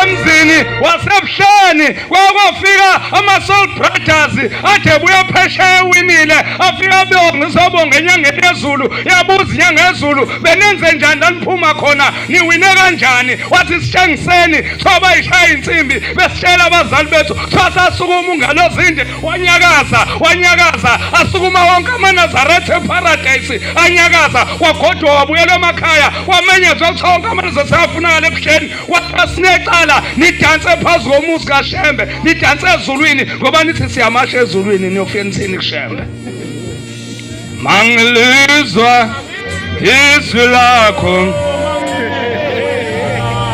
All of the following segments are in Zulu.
emzini wasebuhleni kwakofika ama-soul brothers ade buya phesheya ewinile afika beongisobonga enyangeni yezulu yabuza inyanga yezulu benenze njani laniphuma khona niwine kanjani wathi sitshengiseni soba yishaya insimbi besitshela abazali bethu sasasukuma ungalozinde wanyakaza wanyakaza asukuma wonke amanazaretha eparadayisi anyakaza wagodwa wabuyela emakhaya wamenyezwa sonke amanazaretha afunakala ebusheni wathiwa sinecala nidanse phezu komuzi kashembe nidanse ezulwini ngoba nithi siyamasha ezulwini niyofika nithini kushembe mangilizwa izwi lakho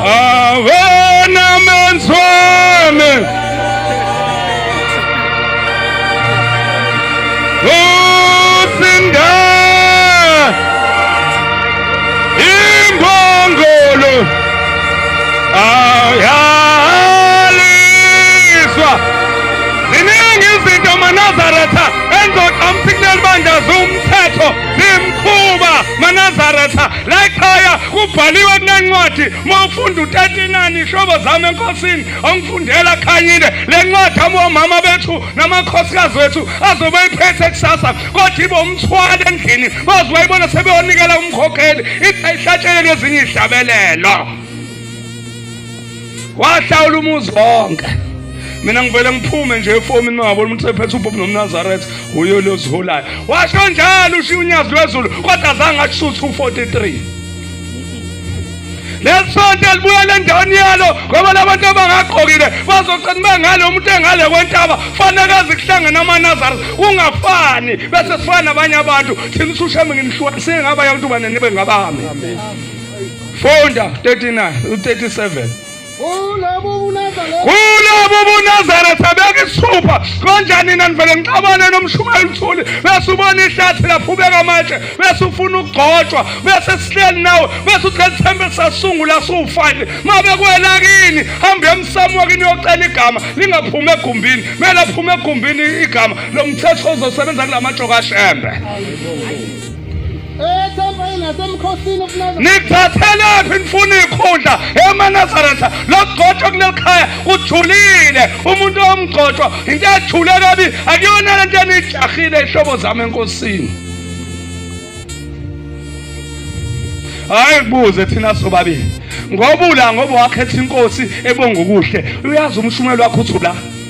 awena menzi wami usinda imbongolo ayaliswa ziningi izinto manazaretha endoda umphikileli bandla ziwumthetho zimkhuba manazaretha la ekhaya kubhaliwe kunencwadi uma ufunda utetinani ihlobo zami enkosini ongifundela khanyile le ncwadi abomama bethu namakhosikazi wethu azobe iphethe kusasa kodwa ibe umthwalo endlini baze bayibona sebeyonikela umkhokheli ithi ayihlatshele nezinye ihlabelelo wahlawula umuzi wonke mina ngivele ngiphume nje efomini mangabona umuntu sephethe ubhobhi nomnazaretha uyo loziholayo washo njalo ushiya unyazi lwezulu kodwa zange ashuthe u-43 lesonto elibuyela endaweni yalo ngoba labantu abangagqokile bazoqina bengalo umuntu engale kwentaba fanele azikuhlangene amanazari kungafani bese sifana nabanye abantu thina usushame nginihlukanisile ngabanye abantu banenibe ngabami Funda 39 u37. Kulabo buNazaretha. Kulabo buNazaretha bekisipha kanjani nina nivele nixabane nomshumayeli uthuli bese ubona ihlathi laphubeka amatshe bese ufuna ukugcotshwa bese sihleli nawe bese uthi lethembe sasungula siwufile mabe kwela kini hambe emsamo kini yocela igama lingaphuma egumbini mela phuma egumbini igama lomthetho ozosebenza kulamajoka shembe nithathelaphi nifuna ikhundla emanazaretha lokugcotshwa kuleli khaya kujulile umuntu omgcotshwa into ejule kabi akuyona le nto eniyijahile ihlobo zami enkosini hayi kubuze thina sobabili ngoba ula ngoba wakhetha inkosi ebonga ukuhle uyazi umshumelo wakho uthi ula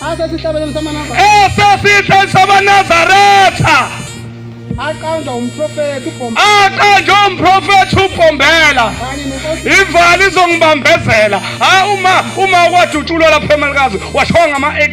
asesihlabelelo samanazaretha aqanjwa umprofethi ubhombela ivali izongibambezela hayi uma uma wadutshulwa lapha emalikazi washiwa ngama-ak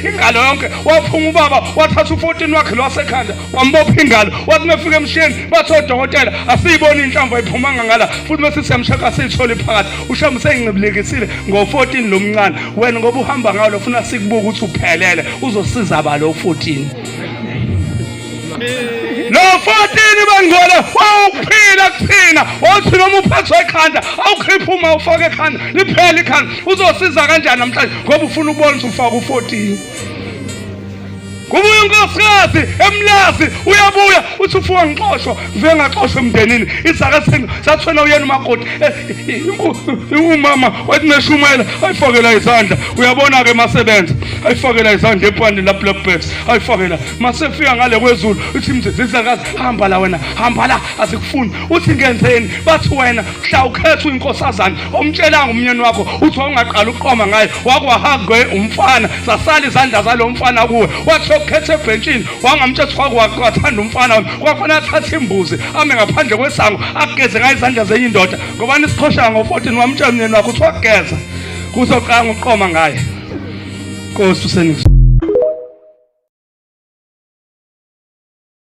ingalo yonke waphuma ubaba wathatha u-14 wakhe lwasekhanda bambopha ingalo wathi mefika emsheni bathi odokotela asiyiboni inhlamvu ayiphumanga ngala futhi bese siyamshaka siyithole phakathi ushamba sengincibilekisile ngo-14 lo mncane wena ngoba uhamba ngalo funa sikubuka ukuthi uphelele uzosiza balo u-14 lo 14 bangcwele wawuphila kuthina wothi noma uphathwa ekhanda awukhiphe uma ufake ekhanda liphele ikhanda uzosiza kanjani namhlanje ngoba ufuna ukubona ukuthi ufaka u-14 Kubuya unkosikazi emlazi uyabuya uthi ufuka ngixoshwa vele ngaxoshwa emndenini izaka senu sathwena uyena umakoti eh, umama wathi neshumela ayifakela izandla uyabona ke masebenza ayifakela izandla epwani la black bags ayifakela masefika ngale kwezulu uthi mzizi izakazi hamba la wena hamba la asikufuni uthi ngenzeni bathi wena mhla ukhethwa inkosazana omtshelanga umnyeni wakho uthi wawungaqala ukuqoma ngayo wakwahagwe umfana zasala izandla zalo mfana kuwe wathi yokukhetha ebhentshini wangamtshela ukuthi wakwaqathanda umfana kwafanele athathe imbuzi ame ngaphandle kwesango ageze ngayo izandla zenye indoda ngoba nisiqhoshana ngo-14 wamtshela umnyeni wakho ukuthi wageza kuzoqanga uqoma ngaye nkosi usenikuzwa